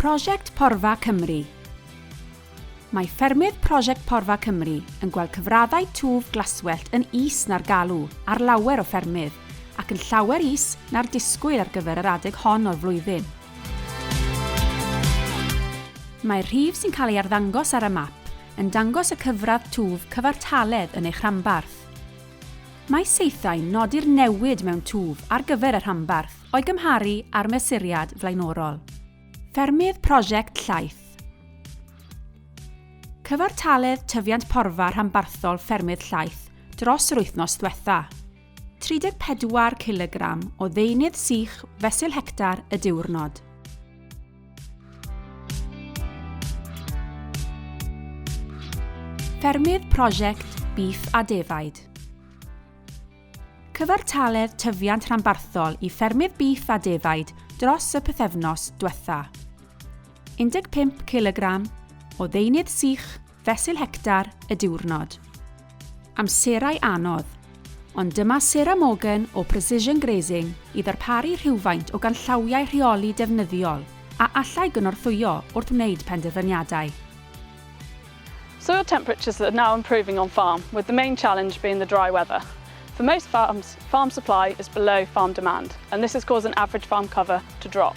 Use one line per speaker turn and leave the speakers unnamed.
Prosiect Porfa Cymru Mae ffermydd Prosiect Porfa Cymru yn gweld cyfraddau twf glaswellt yn is na'r galw ar lawer o ffermydd ac yn llawer is na'r disgwyl ar gyfer yr adeg hon o'r flwyddyn. Mae'r rhif sy'n cael ei arddangos ar y map yn dangos y cyfradd twf cyfartaledd yn eich rhanbarth. Mae saethau'n nodi'r newid mewn twf ar gyfer y rhanbarth o'i gymharu â'r mesuriad flaenorol. Ffermydd Prosiect Llaeth Cyfartaledd tyfiant porfa rhanbarthol ffermydd llaeth dros yr wythnos ddiwetha'. 34 cilogram o ddeunydd sych fesul hectar y diwrnod. Ffermydd Prosiect Beef a Defaid Cyfartaledd tyfiant rhanbarthol i ffermydd beef a defaid dros y pythefnos diwetha. 15 kg o ddeunydd sych Fesul hectar y diwrnod. Amserau anodd. Ond dyma Sarah Morgan o Precision Grazing i ddarparu rhywfaint o ganllawiau rheoli defnyddiol a allai gynorthwyo wrth wneud penderfyniadau.
Soil temperatures that are now improving on farm with the main challenge being the dry weather. For most farms, farm supply is below farm demand and this has caused an average farm cover to drop.